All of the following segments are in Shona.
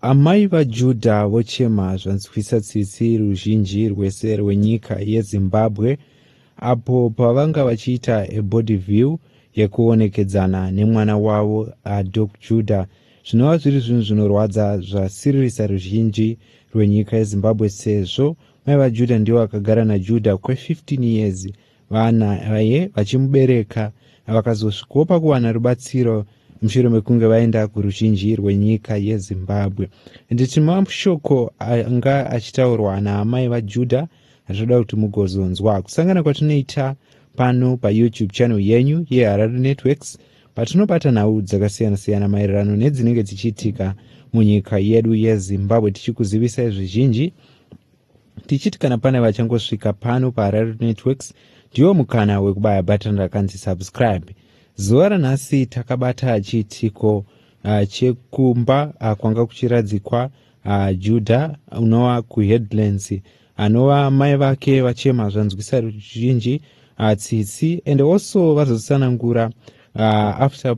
Amai vaJudha vochema zvanzwisa tsitsi ruzhinji rwese rwenyika yeZimbabwe apo pavanga vachiita ebody view yekuonekedzana nemwana wavo aDoc Judah zvinova zviri zvinhu zvinorwadza zvasiririsa ruzhinji rwenyika yeZimbabwe sezvo mai vaJudah ndivo vakagara naJudah kwe 15 years Vana vaye vachimubereka vakazosvikawo pakuwana rubatsiro mushure mekunge vaenda kuruzhinji rwenyika yezimbabwe nditi mashoko anga achitaurwa naamai vajudha zvoda kuti mugozonzwa kusangana kwatinoita pano payoutube channel yenyu yeharare networks patinobata nhau dzakasiyana-siyana maererano nedzinenge dzichiitika munyika yedu yezimbabwe tichikuzivisai zvizhinji tichiti kana pane vachangosvika pano paharare networks ndiwo mukana wekubaya button rakanzi subscribe zuva ranhasi takabata chiitiko uh, chekumba uh, kwanga kuchiradzikwa uh, juda unova kuheadlands anova mai vake vachema zvanzwisa ruzhinji uh, tsitsi and also vazotsanangura uh, after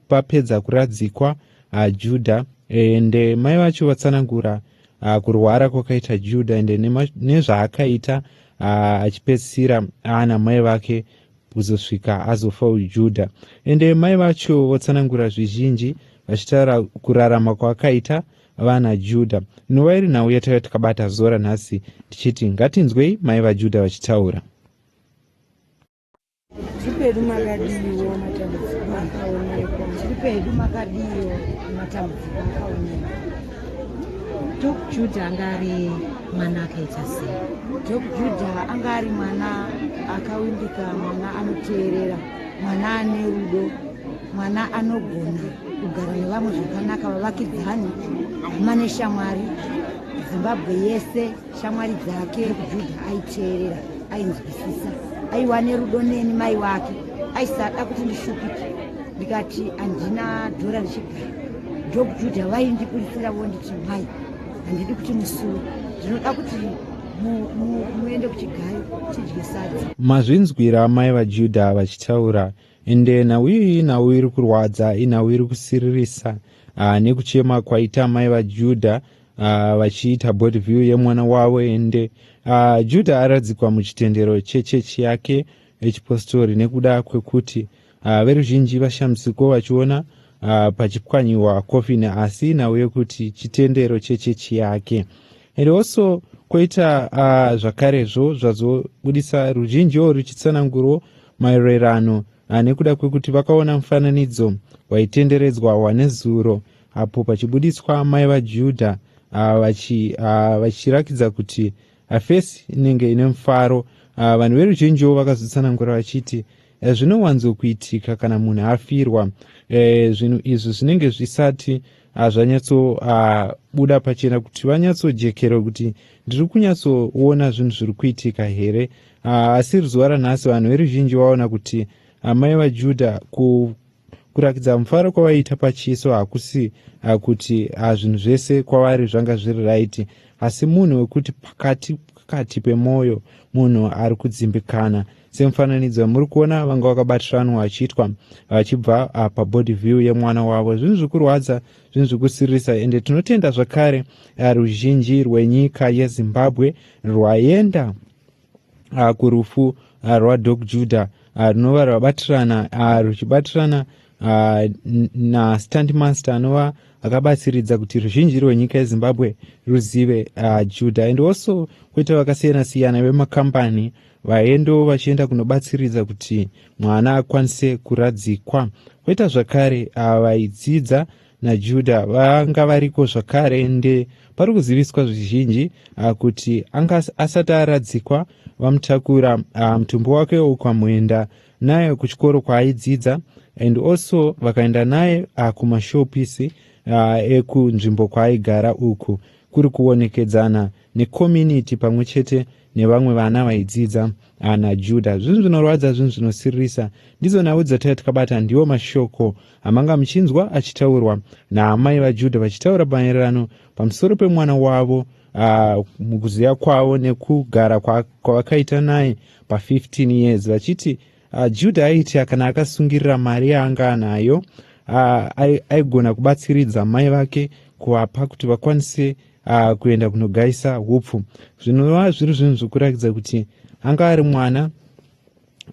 papedza pa kuradzikwa uh, juda ende mai vacho vatsanangura uh, kurwara kwakaita juda ende nezvaakaita uh, achipedzisira aana mai vake kuzosvika azofa ujuda ende mai vacho votsanangura zvizhinji vachitaura kurarama kwakaita vana juda inova iri nhau yataiva takabata zora nhasi tichiti ngatinzwei mai vajudha vachitaura Zviripedu makadiwo matambudziko akaonekwa. Zviripedu makadiwo matambudziko akaonekwa. Dok Juda anga ari mwana akaita sei? Dok Juda anga ari mwana akawimbika, mwana anoteerera, mwana ane rudo, mwana anogona kugara nevamwe zvakanaka, vavakidzani, hama neshamwari, Zimbabwe yese. shamwari dzake rukujudha aiteerera ainzwisisa aiwa nerudo neni mai wake aisada kuti ndishupike ndikati handina dhora richigara ndokujudha vaindiburitsira vonditi mai handidi kuti musuwe ndinoda kuti muende kuchigayo tidye sadza mazvinzwira mai vajudha vachitaura ende nhau iyi nhau iri kurwadza inhau iri kusiririsa ah, nekuchema kwaita mai vajudha Ah, vachiita uh, body view yemwana wavo ende uh, judha aradzikwa muchitendero chechechi yake echipostori nekuda kwekuti uh, veruzhinji vashamsiko vachiona uh, pachipwanyiwa kofini asi nhau yekuti chitendero chechechi yake and also koita uh, zvakarezvo zvazobudisa ruzhinji wo ruchitsanangurwo maererano uh, nekuda kwekuti vakaona mufananidzo waitenderedzwa wanezuro apo pachibuditswa amai vajudha ah, ah, vachirakidza kuti hafesi ah, inenge ine mufaro vanhu veruzhinjiwo vakazotsanangura vachiti eh, zvinowanzokuitika kana munhu afirwa eh, zvinhu izvi zvinenge zvisati zvanyatsobuda pachena kuti vanyatsojekerwa kuti ndiri kunyatsoona zvinhu zviri kuitika here asi ruzuva ranhasi vanhu veruzhinji vaona kuti amai vajudha kurakidza mufaro kwavaiita pachiso hakusi kuti hazvinhu zvese kwavari zvanga zviri raiti asi munhu wekuti pakati pakati pemwoyo munhu ari kudzimbikana semufananidzo muri kuona vanga vakabatiranwa vachiitwa vachibva ah, pabody view yemwana wavo zvinhu zviri kurwadza zvinhu zviri kusiririsa ende tinotenda zvakare ah, ruzhinji rwenyika yezimbabwe rwaenda ah, kurufu ah, rwadoc juda ah, runova rwabatirana ruchibatirana nastand master anova akabatsiridza kuti ruzhinji rwenyika yezimbabwe ruzive juda and also kwoita vakasiyana siyana vemakambani vaendo vachienda kunobatsiridza kuti mwana akwanise kuradzikwa kwoita zvakare vaidzidza uh, naJuda vanga variko zvakare ende pari kuziviswa zvizhinji ah, kuti anga asati aradzikwa vamutakura ah, mutumbi wake ukamuyenda naye kuchikoro kwaaidzidza and also vakaenda naye ah, kumashopisi ekunzvimbo kwaaigara uku kuri kuonekedzana nekominiti pamwe chete nevamwe vana vaidzidza ana juda zvinhu zvinorwadza zvinhu zvinosiririsa ndidzo nhau dzataiva tikabata ndiwo mashoko amanga muchinzwa achitaurwa naamai vajudha vachitaura maererano pamusoro pemwana wavo ah, mukuziva kwavo nekugara kwavakaita naye pa15 years vachiti Uh, Juda aitya kana akasungirira mari yaanga anayo uh, aigona ai kubatsiridza mai vake kuvapa kuti vakwanise uh, kuenda kunogaisa upfu zvinova zviri zvinhu zvekurakidza kuti anga ari mwana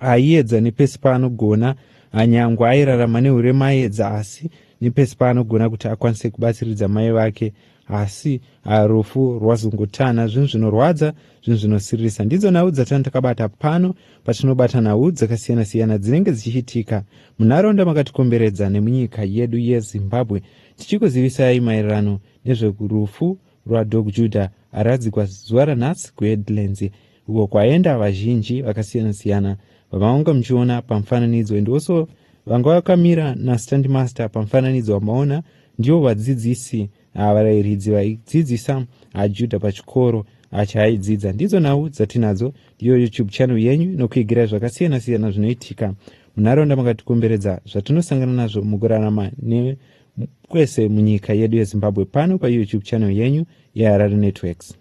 aiedza uh, nepesi paanogona uh, nyangwe airarama neurema aedza asi nepesi paanogona kuti akwanise kubatsiridza mai vake asi ah, rufu rwazungutana zvinhu zvinorwadza zvinhu zvinosiririsa ndidzo nhau dzatani takabata pano patinobata nhau dzakasiyana siyana dzinenge dzichiitika munharaunda makatikomberedza nemunyika yedu yezimbabwe tichikuzivisai maererano nezverufu rwadog juda aradzikwa zuva ranhasi kuheadlands uko kwaenda vazhinji vakasiyana-siyana vamavanga muchiona pamufananidzo and also vanga vakamira nastand master pamufananidzo vamaona ndivo vadzidzisi ah, varairidzi vaidzidzisa ah, judha pachikoro ah, chaaidzidza ndidzo nhau dzatinadzo ndiyo youtube channel yenyu nokuigira zvakasiyana-siyana zvinoitika munharaunda makatikomberedza zvatinosangana nazvo mukurarama ne kwese munyika yedu yezimbabwe pano payoutube channel yenyu yeharare networks